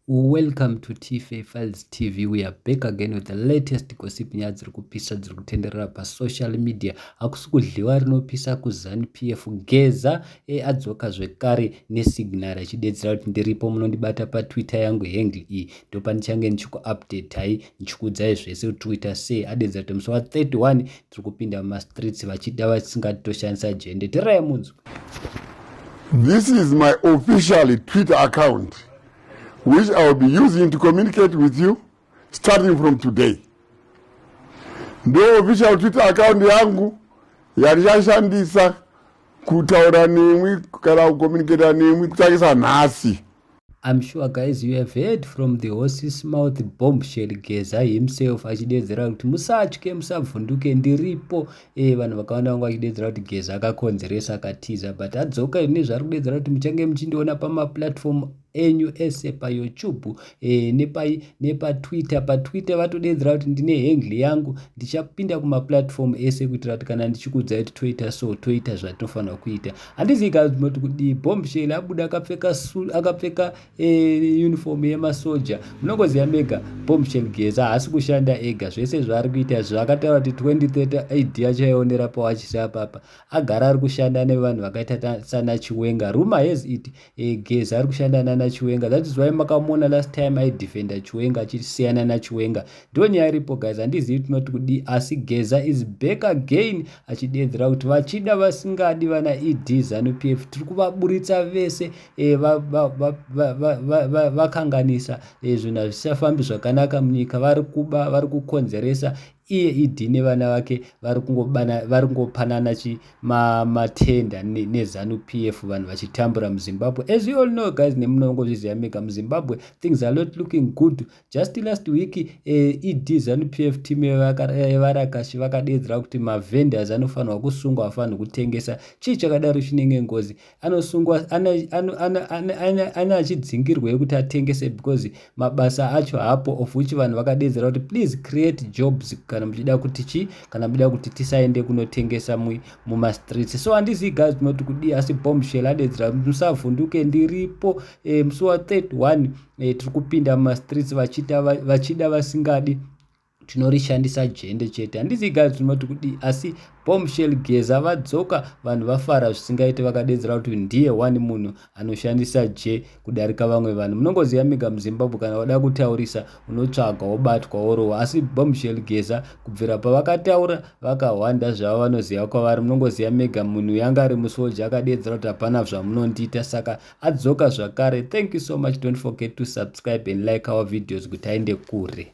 Welcome to Tife Files TV. We are back again with the latest gossip nyaya dziri kupisa dziri kutenderera pasocial media. Hakusi kudliwa rinopisa kuZanu PF. Geza e adzoka zvekare nesignal achidedzera kuti ndiripo munondibata paTwitter yangu handle iyi ndopandichange ndichikuupdatai ndichikuudzai zvese kuti Twitter sei. Adedzera kuti musi wa 31 tiri kupinda mumastreets vachida vasingati toshandisa jende tirai munzwi this is my officially twitter account which i will be using to communicate with you starting from today ndo official twitter account yangu yandichashandisa kutaura nemwi kana kucommunicata nemwi kutangisa nhasi I'm sure guys you have heard from the horse's mouth bombshell Geza himself achideedzera kuti musatye musabvunduke ndiripo eh vanhu vakawanda vanga vachideedzera kuti Geza akakonzeresa akatiza but adzoka ine zvaari kudeedzera kuti muchange muchindiona pamaplatform enyu ese payoutube e, nepai nepatwitter patwitter vatodeedzera kuti ndine hengle yangu ndichapinda kumaplatform ese kuitira kuti kana ndichikuudzai kuti toita so toita zvatinofanira kuita handizivi kazvimati kudii bombshell abuda akapfeka akapfeka eh, uniform yemasoja munongoziva mega bombshell geza haasi kushanda ega zvese zvaari kuita zvakataura kuti 2030 id yacho yaionera pawachisa papa agara ari kushanda nevanhu vakaita sana chiwenga ruma has it e, geza ari kushanda nana chiwenga that is why makamuona last time aidefenda chiwenga achisiyana nachiwenga ndo nyaya iripo guys handizivi tinoti kudii asi geza is back again achideedzera kuti vachida vasingadi vana ed zanu p f tiri kuvaburitsa vese e, vakanganisa e, zvinhu hazvisafambi zvakanaka munyika vari kuba vari kukonzeresa iye ed nevana vake vari kungopanana matenda nezanu p f vanhu vachitambura muzimbabwe as we all know guys nemunongozviziva mega muzimbabwe things are not looking good just last week eh, ed zanu p f team yevarakashi eh, vakadeedzera kuti mavendors anofanirwa kusungwa afanirwa kutengesa chii chakadaro chinenge ngozi anosungwa ane achidzingirwa yekuti atengese because mabasa acho hapo of which vanhu vakadeedzera kuti please create jobs kana muchida kuti chi kana muchida kuti tisaende kunotengesa mumastreets so handizivi guys tinoti kudii asi bombshell adeedzera musavhunduke ndiripo eh, musi wa 31 eh, tiri kupinda mumastreets vachida vasingadi tinorishandisa jende chete handizi guys tinoti kudii asi bombshell geza vadzoka vanhu vafara zvisingaite vakadedzera kuti ndiye one munhu anoshandisa je kudarika vamwe vanhu munongoziva mega muzimbabwe kana wada kutaurisa unotsvaga wobatwa worowa asi bombshell geza kubvira pavakataura vakahwanda zvavo vanoziva kwavari munongoziva mega munhu yanga ari musoja akadedzera kuti hapana zvamunondiita saka adzoka zvakare thank you so much don't forget to subscribe and like our videos kuti aende kure